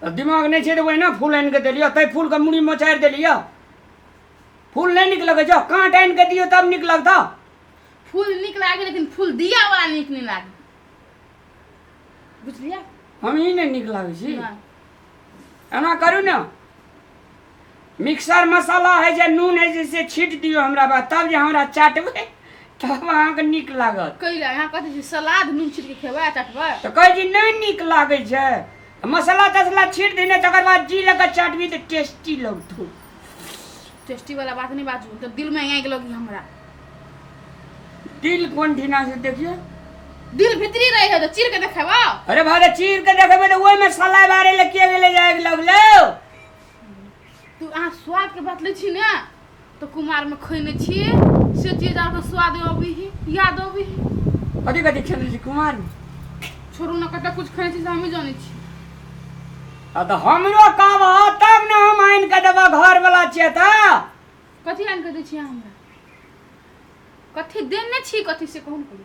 तऽ दिमाग नहि छै तऽ ओहिना फूल आनि कऽ देलियौ ताहि फूलके मुड़ी मोचारि देलियौ फूल नहि नीक लगै छौ काँट आनि कऽ दियौ तब नीक लगतौ फूल नीक लागै लेकिन फूल दिया वाला नीक नहि लागै बुझलियै हम ई नहि नीक लागै छी एना करू ने मिक्सर मसाला है जे नून है जे से छीट दियो हमरा पर तब जे हमरा चाटबै तब अहाँके नीक लागत कैला अहाँ कथी छै सलाद नून छिट के खेबै आ चटबै तऽ कहै छी नहि नीक लागै छै मसाला तसला छीट देने तकर बाद जी लऽ कऽ चाटबी तऽ टेस्टी लगतौ टेस्टी वाला बात नहीं बाजू तो दिल में आगि लगी हमरा दिल कोन ठिना से देखियो दिल भीतरी रहे है तो चीर के देखेबा अरे भाई चीर के देखबै तऽ ओहिमे सलाइ बारे लऽ के गेलै जाए लगलौ तू अहाँ स्वादके बात लै छी ने तऽ कुमारमे खैने छी से चीज आरके स्वाद अबै ही याद अबै ही कथी कथी खेलने छी कुमार छोड़ू ने कतऽ कुछ खैने छी से हमही जानै छी आ तऽ हमरो कहबह तब ने हम आनि कऽ देबह घर वाला छियै तऽ कथी आनि कऽ दै छी अहाँ हमरा कथी देने छी कथी से कहू ने करू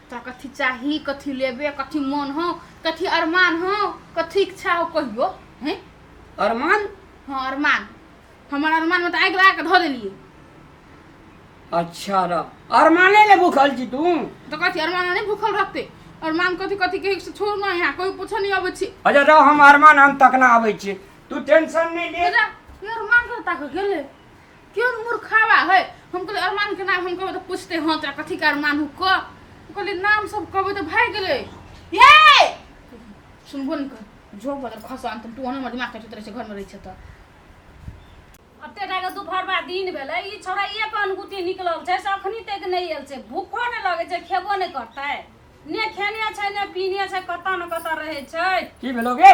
तोरा कथी चाही कथी लेबे कथी मन हो कथी अरमान हो कथी इच्छा हो कहियो हैं अरमान हाँ अरमान हमर अरमान में तो आगि लगा के धो देलिए अच्छा रह अरमाने ले भूखल छी तू तो कथी अरमान नहीं भूखल रहते अरमान कथी कथी के से छोड़ ना यहाँ कोई पूछो नहीं अबे छी अच्छा रह हम अरमान हम तकना आबै छी तू टेंशन नहीं ले तेरा ये अरमान के ताक गेले केओ मूर्खावा है हम कहलियै अरमानके नाम हम कहबै तऽ पूछते हँ तोरा कथीके अरमान हो कह हम कहलियै नाम सब कहबै तऽ भागि गेलै ये सुनबो ने कर जो बदल खस अंत तू ओने हमर दिमाग कटैत रहै छै घरमे रहै छै तऽ अते टाके दुपहरबा दिन भेलै ई छौड़ा ये पनगुती निकलल छै से अखनी तक नहि आयल छै भूखो नहि लगै छै खेबो नहि करतै ने खेने छै ने पीने छै कतऽ ने कतऽ रहै छै की भेलो गे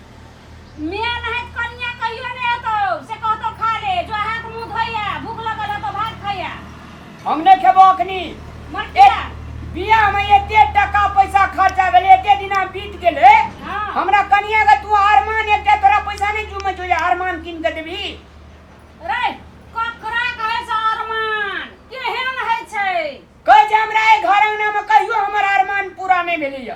मेन है कन्या कहियो ने एतो से कहतो खा ले जो हाथ मुंह धोइया भूख लगल है तो भात खाइया हम ने खेबो अखनी मर ए- किया बियाह में एते टका पैसा खर्चा भेल एते दिना बीत गेले हाँ। हमरा कनिया के तू अरमान एकटा तोरा पैसा नहीं जुमे जो अरमान किन के देबी रे ककरा कहे से अरमान केहन है छै कहै छै हमरा ए घर अंगना में कहियो हमर अरमान पूरा नहीं भेलैया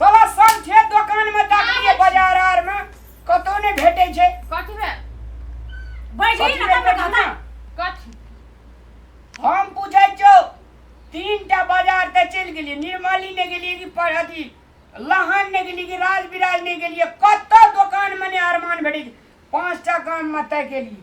साला सब छै दोकान में ताकिए बाजार आर में कतो ने भेटे छै कथी बे बैठ कथी ना भेटै तब छै ना ना? कथी हम पूछै छौ तीन टा बाजार ते चल गेलिए निर्मली ने गेलिए कि पर अथी लहान ने गेलिए कि राज विराज ने गेलिए कतो दोकान में ने अरमान भेटे छै। पांच टा काम में तय केलिए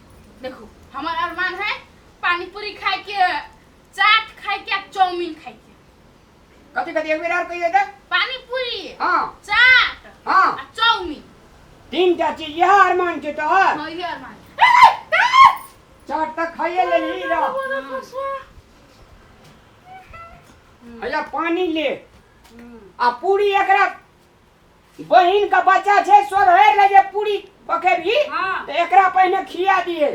देखो हमार अरमान है पानी पूरी खाए के चाट खाए के आ चाउमीन खाए के कथी कथी एक बेर और कहियो तो पानी पूरी हां चाट हां आ चाउमीन तीन टा चीज यह अरमान के तो है हाँ ये अरमान चाट तक खाइए ले ली रा हम्म, अया पानी ले हम्म। आ पूरी एकरा बहिन का बच्चा छै सोधहर ले जे पूरी पकेबही हाँ। तऽ एकरा पहिने खिया दिहे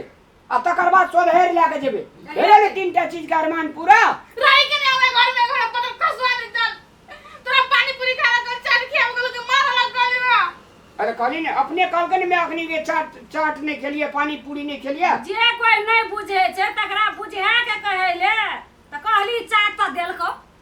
आ तकर बाद सोधहर लए कऽ जेबै भेलै ने तीन टा चीज के अरमान पूरा रही के नहीं हमारे घर में घर पर कसवा नहीं चल तोरा पानी पूरी खाना कर चाट के हम लोग मार लग गली ना अरे कहली ने अपने कहलकै ने मैं अखनी के चाट चाट नहीं खेलिए पानी पूरी नहीं खेलिए जे कोई नहीं बुझे छै तकरा बुझे के कहे ले त कहली चाट त देलको